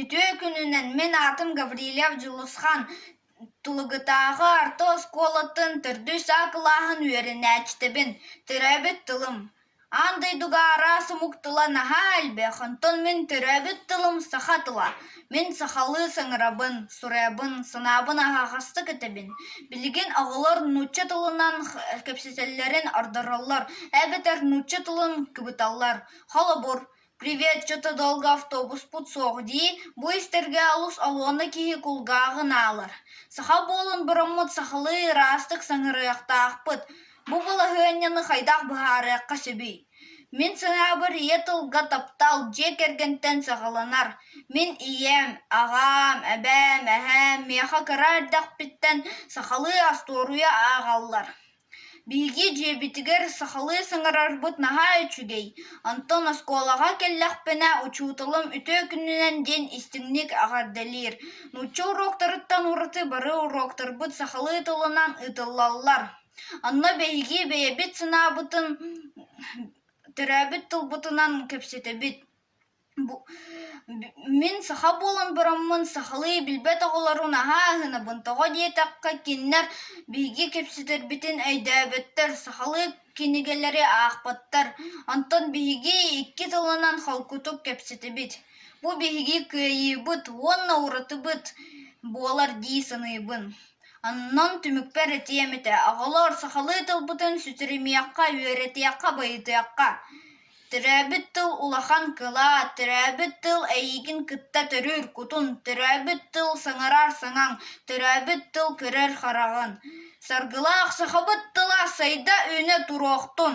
Үтүө күнүнэн мин аатым Гаврильев Дьулусхан Тулугутааҕы орто оскуолатын төрдүс А кылааһын үөрэнээччитибин, төрөөбүт тылым. Аан дойдуга араас омук тыла наһаа элбэх, онтон мин төрөөбүт тылым саха тыла. Мин сахалыы саҥарабын, суруйабын, санаабын аһаҕастык этэбин. Билигин оҕолор нуучча тылынан кэпсэтэллэрин ордороллор, эбэтэр нуучча тылын кыбыталлар. Холобур, Привет, что-то долго автобуспут суох дии, бу истэргэ олус олуонна киһи кулгааҕы наалар. Саха буолан бороммут сахалыы ыраастык саҥарыахтаахпыт. Бу балаһыанньаны хайдах быһаарыахха сөбүй? Мин санаабар ийэ тылга таптал дьиэ кэргэнтэн саҕаланар. Мин ийэм, аҕаам, эбээм, эһээм миэхэ кыра эрдэхпиттэн сахалыы остуоруйа ааҕаллар. Биһиги дьиэбитигэр сахалыы саҥарарбыт наһаа үчүгэй, онтон оскуолаҕа кэллэхпинэ учууталым үтүө күнүнэн диэн истиҥник эҕэрдэлиир. Нуучча уруоктарыттан ураты бары уруоктарбыт сахалыы тылынан ыытыллаллар. Онно биһиги бэйэбит санаабытын, төрөөбүт тылбытынан кэпсэтэбит Мин саха буолан бараммын, сахалыы билбэт оҕолору наһаа аһынабын, тоҕо диэтэххэ, кинилэр биһиги кэпсэтэрбитин өйдөөбөттөр, сахалыы кинигэлэри аахпаттар. Онтон биһиги икки тылынан холкутук кэпсэтибит. Бу биһиги кыайыыбыт уонна уратыбыт буолар дии саныыбын. Онон түмүкпэр этиэм этэ, оҕолор сахалыы тылбытын сүтүрүмүөххэ, үөрэтиэххэ, байытыахха. Төрөөбүт тыл улахан кыла, төрөөбүт тыл эйиигин кытта төрүүр кутун, төрөөбүт тыл саҥарар саҥаҥ, төрөөбүт тыл көрөр хараҕын. Саргылаах сахабыт тыла сайда-үүнэ туруохтун!